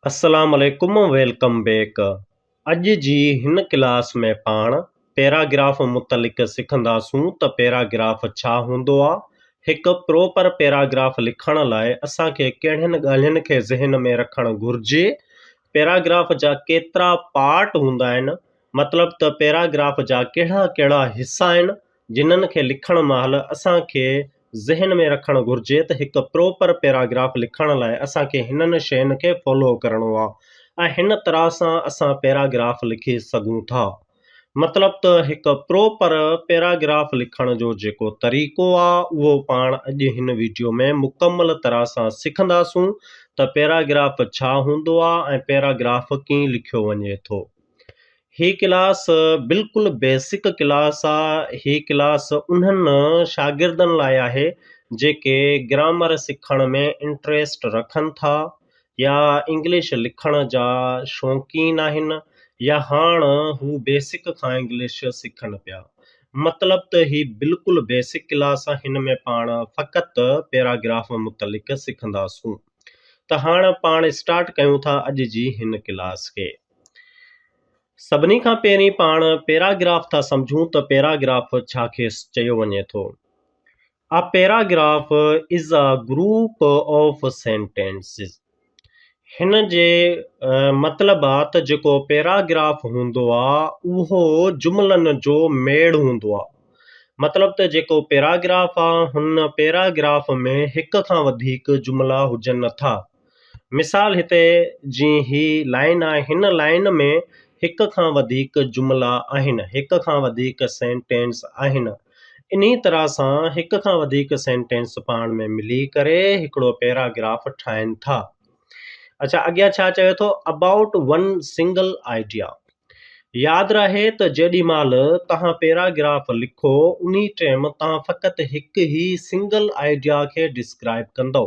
السلام عليڪم welcome back اڄ جي هن ڪلاس ۾ پاڻ پيراگراف متعلق سکنداسون ته پيراگراف ڇا هوندو آ هڪ پروپر پيراگراف لکڻ لاء اسان کي ڪهڙين ڳالهين کي ذهن ۾ رکڻ گهرجي پيراگراف جا ڪيترا پارٽ هوندا آهن مطلب ته پيراگراف جا ڪهڙا ڪهڙا حصا آهن جنھن کي لکڻ مھل اسان کي ذھن ۾ رکڻ گھرجي ته ھڪ پروپر پيراگراف لکڻ لاء اسان کي ھنن شين کي فالو ڪرڻو آ ۽ ھن طرح سان اسان پيراگراف لکي سگھون ٿا مطلب ته ھڪ پروپر پيراگراف لکڻ جو جيڪو طريقو آ اھو پاڻ اڄ ھن ويڊيو ۾ مڪمل طرح سان سکنداسون ته پيراگراف ڇا ھوندو آ ۽ پيراگراف ڪيئن لکيو وڃي ٿو هي ڪلاس بلڪل بيسڪ ڪلاس آ هي ڪلاس انهن شاگردن لاء آهي جيڪي گرامر سکڻ ۾ انٽريسٽ رکن ٿا يا انگلش لکڻ جا شوقين آهن يا هاڻ هو بيسڪ کان انگلش سکن پيا مطلب ته هي بلڪل بيسڪ ڪلاس آ هن ۾ پاڻ فقط پيراگراف متعلق سکندا سون ته هاڻ پاڻ اسٽارٽ ڪيون ٿا اڄ جي هن ڪلاس کي. سڀني کان پهرين پاڻ پيراگراف ٿا سمجهون ته پيراگراف ڇا کيس چيو وڃي ٿو. A paragraph is a group of sentences. هن جي مطلب آ ته جيڪو پيراگراف هوندو آ اهو جملن جو ميڙ هوندو آ. مطلب ته جيڪو پيراگراف آ هن پيراگراف ۾ هڪ کان وڌيڪ جملا هجن ٿا. مثال هتي جي هي لائن آهي هن لائن ۾ هڪ کان وڌيڪ جملا آهن هڪ کان وڌيڪ سينٽينس آهن انهي طرح سان هڪ کان وڌيڪ سينٽينس پاڻ ۾ ملي ڪري هڪڙو پيراگراف ٺاهن ٿا اڇا اڳيان ڇا چيو اٿو اباؤٽ ون سنگل آئيڊيا ياد رهي ته جيڏي مال تهان پيراگراف لکو انهي ٽيم تهان فقط هڪ هي سنگل آئيڊيا کي ڊسڪرائب ڪندو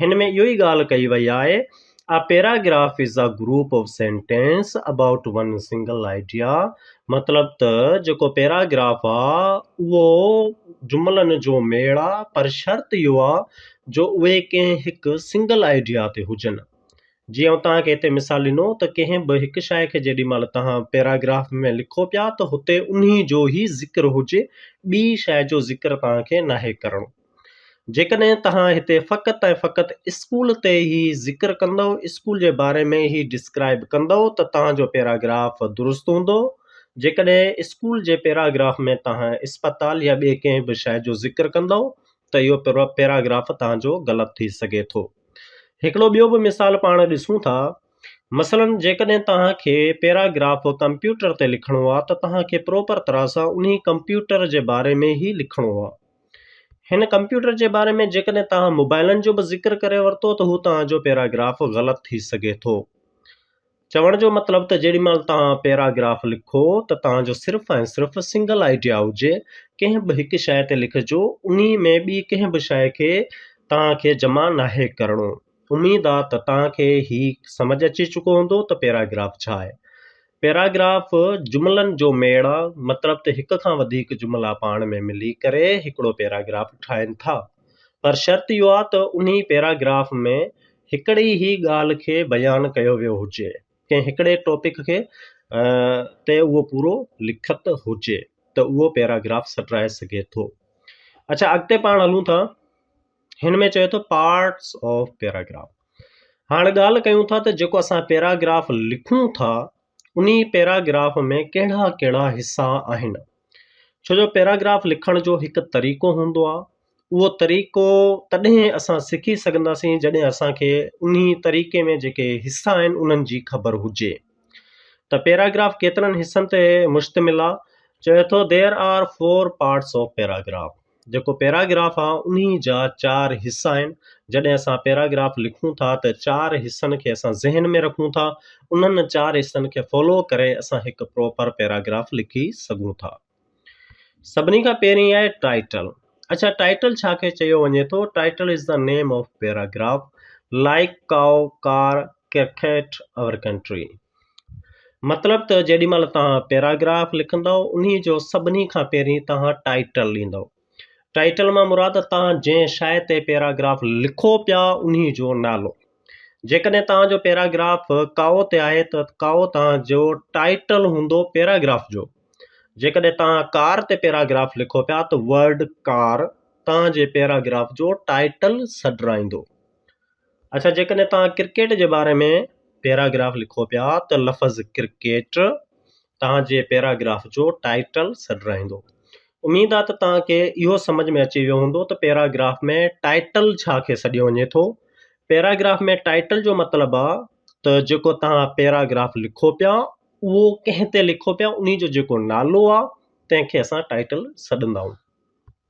هن ۾ اهو ئي ڳالهه ڪئي وئي آهي، A paragraph is a group of sentence about one single idea مطلب ته جيڪو پيراگراف آ اهو جملن جو ميڙ آ پر شرط اهو آ جو اهي ڪنهن هڪ سنگل آئيڊيا تي هجن. جيئن آئون توهان کي هتي مثال ڏنو ته ڪنهن به هڪ شاعر کي جيڏي مهل توهان پيراگراف ۾ لکو پيا ته هتي انهي جو ئي ذڪر هجي ٻي شاعر جو ذڪر توهان کي ناهي ڪرڻو. جيڪڏهن توهان هتي فقط ۽ فقط اسڪول تي هي ذڪر ڪندؤ، اسڪول جي باري ۾ هي ڊسڪرائيب ڪندؤ ته توهان جو پيراگراف درست هوندو، جيڪڏهن اسڪول جي پيراگراف ۾ توهان اسپتال يا ٻي ڪنهن به شيء جو ذڪر ڪندؤ ته اهو پيراگراف توهان جو غلط ٿي سگهي ٿو. هڪڙو ٻيو به مثال پاڻ ڏسون ٿا، مثلاً جيڪڏهن توهان کي پيراگراف ڪمپيوٽر تي لکڻو آ ته توهان کي پروپر طرح سان انهي ڪمپيوٽر جي باري ۾ هي لکڻو آ. هن ڪمپيوٽر جي باري ۾ جيڪڏهن توهان موبائلن جو به ذڪر ڪري ورتو ته هو توهان جو پيراگراف غلط ٿي سگهي ٿو. چوڻ جو مطلب ته جيڏي مهل توهان پيراگراف لکو ته توهان جو صرف ۽ صرف سنگل آئيڊيا هجي، ڪنهن به هڪ شيء تي لکجو، انهي ۾ ٻي ڪنهن به شيء کي توهان کي جمع ناهي ڪرڻو. اميد آ ته توهان کي هي سمجهه اچي چڪو هوندو ته پيراگراف ڇا آهي. پيراگراف جملن جو ميڙ آ، مطلب ته هڪ کان وڌيڪ جملا پاڻ ۾ ملي ڪري هڪڙو پيراگراف ٺاهين ٿا. پر شرط اهو آ ته انهي پيراگراف ۾ هڪڙي ئي ڳالهه کي بيان ڪيو ويو هجي، ڪنهن هڪڙي ٽاپڪ کي تي اهو پورو لکت هجي ته اهو پيراگراف سٽرائي سگهي ٿو. اڇا اڳتي پاڻ هلون ٿا. هن ۾ چوي ٿو پارٽس آف پيراگراف هاڻ ڳالهه ڪيون ٿا ته جيڪو اسان پيراگراف لکون ٿا انهي پيراگراف ۾ ڪهڙا ڪهڙا حصا آهن ڇو جو پيراگراف لکڻ جو هڪ طريقو هوندو آهي اهو طريقو تڏهن اسان سکي سگهنداسين جڏهن اسانکي انهي طريقي ۾ جيڪي حصا آهن انهن جي خبر هجي ته پيراگراف ڪيترن حصن تي مشتمل آهي چوي ٿو there are four parts of paragraph جيڪو پيراگراف آ انهي جا چار حصا آهن جڏهن اسان پيراگراف لکون ٿا ته چار حصن کي اسان ذهن ۾ رکون ٿا انهن چار حصن کي فالو ڪري اسان هڪ پراپر پيراگراف لکي سگهون ٿا سڀني کان پهرين آهي ٽائيٽل اڇا ٽائيٽل ڇا کي چيو وڃي ٿو title is the name of paragraph like cow car cricket or country مطلب ته جيڏي مهل توهان پيراگراف لکندو انهي جو سڀني کان پهرين توهان ٽائيٽل ڏيندو ٽائيٽل مان مراد توهان جنهن شاء تي پيراگراف لکو پيا انهي جو نالو جيڪڏهن توهان جو پيراگراف ڪائو تي آهي ته ڪائو توهان جو ٽائيٽل هوندو پيراگراف جو جيڪڏهن توهان ڪار تي پيراگراف لکو پيا ته ورڊ ڪار توهان جي پيراگراف جو ٽائيٽل سڏرائيندو اڇا جيڪڏهن توهان ڪرڪيٽ جي باري ۾ پيراگراف لکو پيا ته لفظ ڪرڪيٽ توهان جي پيراگراف جو ٽائيٽل سڏ رهندو اميد آ ته توهان کي اهو سمجهه ۾ اچي ويو هوندو ته پيراگراف ۾ ٽائيٽل ڇا کي سڏيو وڃي ٿو پيراگراف ۾ ٽائيٽل جو مطلب آ ته جيڪو توهان پيراگراف لکو پيا اهو ڪنهن تي لکو پيا انهي جو جيڪو نالو آ تنهن کي اسان ٽائيٽل سڏندا آهيون.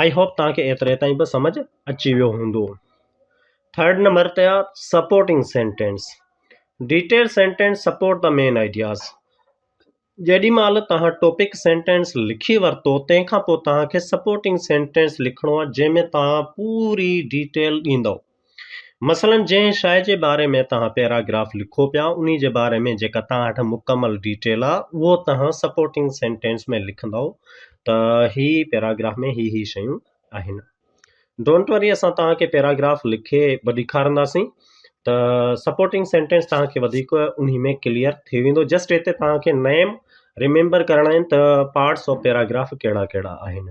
آئي هوپ توهان کي ايتري تائين به سمجهه اچي ويو هوندو. ٿرڊ نمبر تي آ supporting sentence detail sentence support the main ideas جيڏي مهل توهان ٽاپڪ سينٽينس لکي ورتو تنهن کان پوء توهان کي سپورٽنگ سينٽينس لکڻو آهي جنهن ۾ توهان پوري ڊيٽيل ڏيندو مثلا جنهن شيء جي باري ۾ توهان پيراگراف لکو پيا انهي جي باري ۾ جيڪا توهان وٽ مڪمل ڊيٽيل آ اهو توهان سپورٽنگ سينٽينس ۾ لکندؤ ته هي پيراگراف ۾ هي هي شيون آهن ڊونٽ وري اسان توهان کي پيراگراف لکي به ڏيکارنداسين ته سپورٽنگ سينٽينس توهان کي وڌيڪ انهي ۾ ڪليئر ٿي ويندو جسٽ هتي توهان کي نيم ريميمبر ڪرڻا آهن ته پارٽس آف پيراگراف ڪهڙا ڪهڙا آهن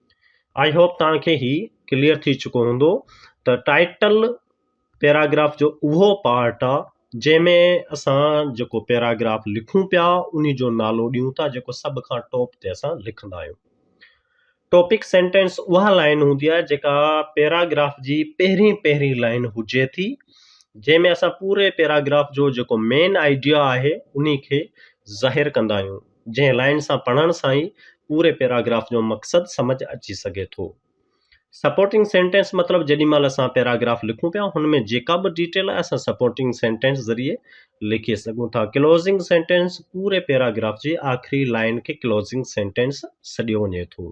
آئي هوپ توهان کي هي ڪليئر ٿي چڪو هوندو ته ٽائيٽل پيراگراف جو اهو پارٽ آ جنهن ۾ اسان جيڪو پيراگراف لکون پيا انهي جو نالو ڏيون ٿا جيڪو سڀ کان ٽاپ تي اسان لکندا آهيون ٽاپڪ سينٽينس اها لائن هوندي آهي جيڪا پيراگراف جي پهرين پهرين لائن هجي ٿي جنهن ۾ اسان پوري پيراگراف جو جيڪو مين آئيڊيا آهي انهي کي ظاهر ڪندا آهيون جنهن لائين سان پڙهڻ سان ئي پوري پيراگراف جو مقصد سمجهه اچي سگهي ٿو. سپورٽنگ سينٽينس مطلب جيڏي مهل اسان پيراگراف لکون پيا هن ۾ جيڪا به ڊيٽيل آهي اسان سپورٽنگ سينٽينس ذريعي لکي سگهون ٿا. ڪلوزنگ سينٽينس پوري پيراگراف جي آخري لائين کي ڪلوزنگ سينٽينس سڏيو وڃي ٿو.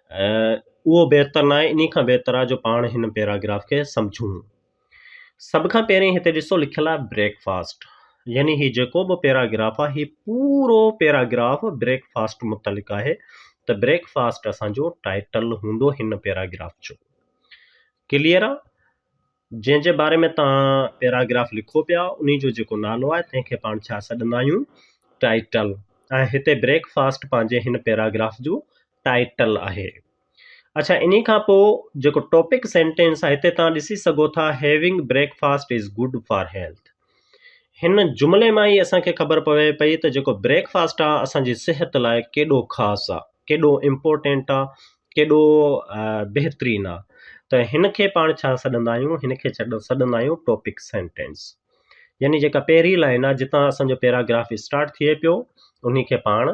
اهو بهتر ناهي انهي کان بهتر آهي جو پاڻ هن پيراگراف کي سمجهون. سڀ کان پهرين هتي ڏسو لکيل آهي بريڪ فاسٽ يعني هي جيڪو به پيراگراف آهي هي پورو پيراگراف بريڪ فاسٽ متعلق آهي ته بريڪ فاسٽ اسان جو ٽائيٽل هوندو هن پيراگراف جو ڪليئر آهي جنهن جي باري ۾ توهان پيراگراف لکو پيا انهي جو جيڪو نالو آهي تنهن کي پاڻ ڇا سڏندا آهيون ٽائيٽل ۽ هتي بريڪ فاسٽ پنهنجي هن پيراگراف جو ٽائيٽل آهي اڇا انهي کان پوء جيڪو ٽاپڪ سينٽينس آهي هتي توهان ڏسي سگهو ٿا having breakfast is good for health هن جملي مان ئي اسان کي خبر پوي پئي ته جيڪو بريڪ فاسٽ آ اسان جي صحت لاء ڪيڏو خاص آ ڪيڏو امپورٽينٽ آ ڪيڏو بهترين آ ته هن کي پاڻ ڇا سڏندا آهيون هن کي سڏندا آهيون ٽاپڪ سينٽينس يعني جيڪا پهرين لائن آ جتان اسان جو پيراگراف اسٽارٽ ٿئي پيو انهي کي پاڻ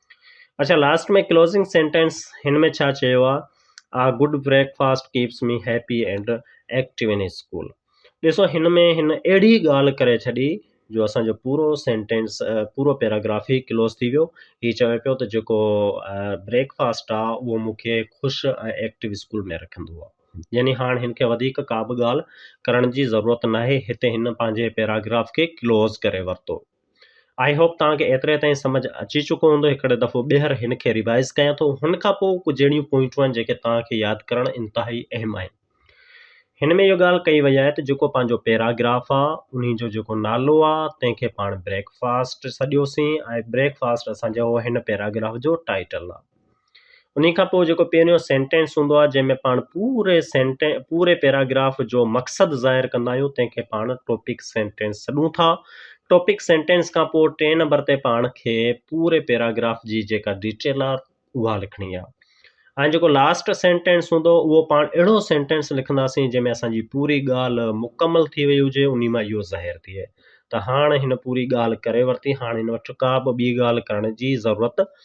اڇا لاسٽ ۾ ڪلوزنگ سينٽينس هن ۾ ڇا چيو آهي a good breakfast keeps me happy and active in school ڏسو هن ۾ هن اهڙي ڳالهه ڪري ڇڏي جو اسانجو پورو سينٽينس پورو پيراگراف ئي ڪلوز ٿي ويو هي چوي پيو ته جيڪو بريڪ فاسٽ آ اهو مونکي خوش ۽ ايڪٽو اسڪول ۾ رکندو آ يعني هاڻ هن کي وڌيڪ ڪا به ڳالهه ڪرڻ جي ضرورت ناهي هتي هن پنهنجي پيراگراف کي ڪلوز ڪري ورتو آئي هوپ توهان کي ايتري تائين سمجھ اچي چڪو هوندو هڪڙي دفعو ٻيهر هن کي ريوائز ڪيان ٿو هن کان پوء ڪجھ اهڙيون پوائنٽون آهن جيڪي توهان کي ياد ڪرڻ انتهائي اهم آهن هن ۾ اهو ڳالھ ڪئي وئي آهي ته جيڪو پنهنجو پيراگراف آ انهي جو جيڪو نالو آ تنهن کي پاڻ بريڪ فاسٽ سڏيوسين ۽ بريڪ فاسٽ اسان جو هن پيراگراف جو ٽائيٽل آ انهي کان پوء جيڪو پهريون سينٽينس هوندو آهي جنهن ۾ پاڻ پوري سينٽين پوري پيراگراف جو مقصد ظاهر ڪندا آهيون تنهن کي پاڻ ٽاپڪ سينٽينس سڏون ٿا ٽاپڪ سينٽينس کان پوء ٽئين نمبر تي پاڻ کي پوري پيراگراف جي جيڪا ڊيٽيل آهي اها لکڻي آهي ۽ جيڪو لاسٽ سينٽينس هوندو اهو پاڻ اهڙو سينٽينس لکنداسين جنهن ۾ اسان جي پوري ڳالهه مڪمل ٿي وئي هجي ان مان اهو ظاهر ٿئي ته هاڻ هن پوري ڳالهه ڪري ورتي هاڻ هن وٽ ڪا به ٻي ڳالهه ڪرڻ جي ضرورت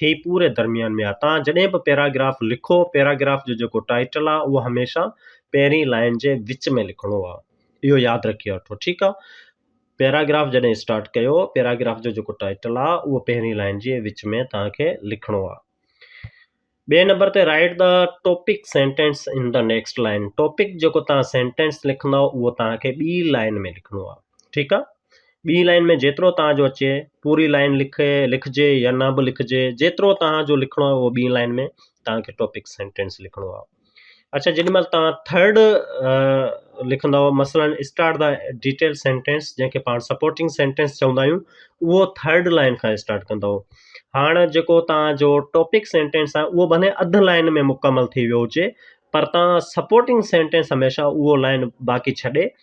هي پوري درميان ۾ آهي. توهان جڏهن به پيراگراف لکو، پيراگراف جو جيڪو ٽائيٽل آهي اهو هميشه پهرين لائين جي وچ ۾ لکڻو آهي. اهو ياد رکي وٺو ٺيڪ آهي. پيراگراف جڏهن اسٽارٽ ڪيو، پيراگراف جو جيڪو ٽائيٽل آهي اهو پهرين لائين جي وچ ۾ توهان کي لکڻو آهي. ٻئي نمبر تي write the topic sentence in the next line. Topic جيڪو توهان سينٽينس لکندؤ اهو توهان کي ٻي لائين ۾ لکڻو آهي. ٺيڪ آ ٻي لائن ۾ جيترو تان جو اچي پوري لائن لکي لکجي يا نه بھ لکجي جيترو تان جو لکڻو آ اھو ٻي لائن ۾ تانکي ٽاپڪ سينٽينس لکڻو آ اڇا جيڏي مھل تان ٿرڊ لکندؤ مثلا اسٽارٽ دا ڊيٽيل سينٽينس جنھن کي پاڻ سپورٽنگ سينٽينس چوندا آھيون اھو ٿرڊ لائن کان اسٽارٽ ڪندؤ ھاڻ جيڪو تان جو ٽاپڪ سينٽينس آ اھو بھني اڌ لائن ۾ مڪمل ٿي ويو ھجي پر تان سپورٽنگ سينٽينس ھميشا اھو لائن باقي ڇڏي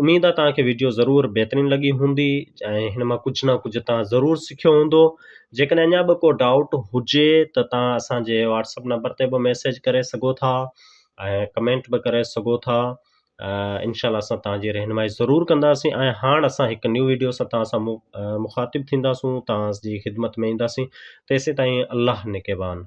اميد آ توهان کي وڊيو ضرور بهترين لڳي هوندي ۽ هن مان ڪجهه نه ڪجهه توهان ضرور سکيو هوندو جيڪڏهن اڃا به ڪو ڊائوٽ هجي ته توهان اسان جي واٽسپ نمبر تي به ميسيج ڪري سگهو ٿا ۽ ڪمينٽ به ڪري سگهو ٿا انشاء الله اسان توهان جي رهنمائي ضرور ڪنداسين ۽ هاڻ اسان هڪ نيو ويڊيو سان توهان سان مخاطب ٿينداسون توهان جي خدمت ۾ اينداسين تيسين تائين الله نگهبان